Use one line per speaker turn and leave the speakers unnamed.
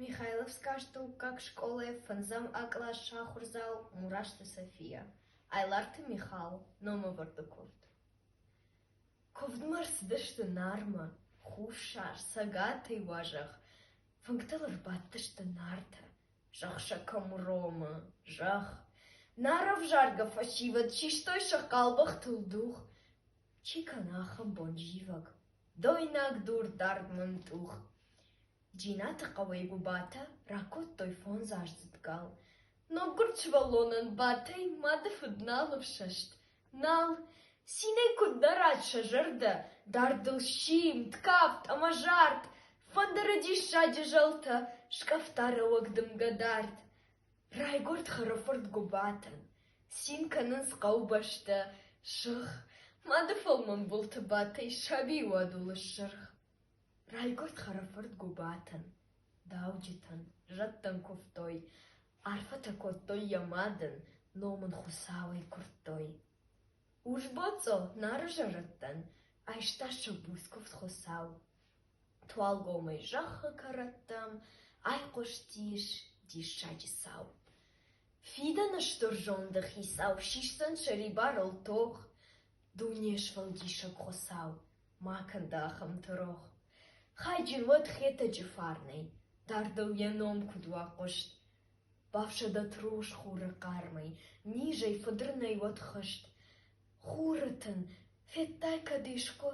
Михайловскаг стӕуккаг скъолайы фӕндзӕм акълас сахуырдзау Мурасты София, Айларты Михал, номӕвӕрды куывд. Куывдмӕ ӕрцыдысты Нармӕ, Хуссар, Цӕгатӕй уазӕг, фынгтыл ӕрбадтысты Нартӕ, зӕгъ сӕ кӕм уромы, зӕгъ. Нар ӕвзаргӕ фӕсивӕд систой сӕ хъалбӕхтыл дух, чи кӕна ахӕм бон зивӕг. Дойнаг дур дард мӕмтъух. Джинаты хъӕуӕй Гуыбатӕ ракодтой фондзаздзыд гал. Ноггуырд сывӕллонӕн Батӕй мады фыд нал ӕфсӕст. Нал, цинӕй куыд дарат сӕ зӕрдӕ, дардыл симд, кафт ӕмӕ зард, фӕндыры диссаджы зӕлтӕ, скъӕфта рӕуӕг дымгӕ дард. Райгуырд хъӕрыфырт Гуыбатӕн, цин кӕнынц хъӕубӕстӕ, сырх, мады фӕлмӕн былты бадтӕй сабийы уадулы ссырх. Райгуырд хъӕрыфырт Гуыбатӕн, дауджытӕн зӕдтӕн куывтой, арфӕтӕ кодтой йӕ мадӕн, ном ын Хуыцауӕй куырдтой. Урсбоцъо Нары зӕрӕдтӕн айста сӕ буц куывд Хуыцау. Туалгомӕй зӕххы кӕрӕттӕм айхъуыстис диссаджы цау. Фидӕны стыр зонды хицау сисдзӕн сӕрибарыл тох, дуне сфӕлдисӕг Хуыцау ма кӕн дӕ ахӕмты рох. Хайджын уӕд Хетӕджы фарнӕй, дардыл йӕ ном куыд уа хъуыст. Бафсӕдӕт рос хуры хъармӕй, низӕй фыдырнӕй уӕд хызт. Хуры тын, федтай кӕд искуы,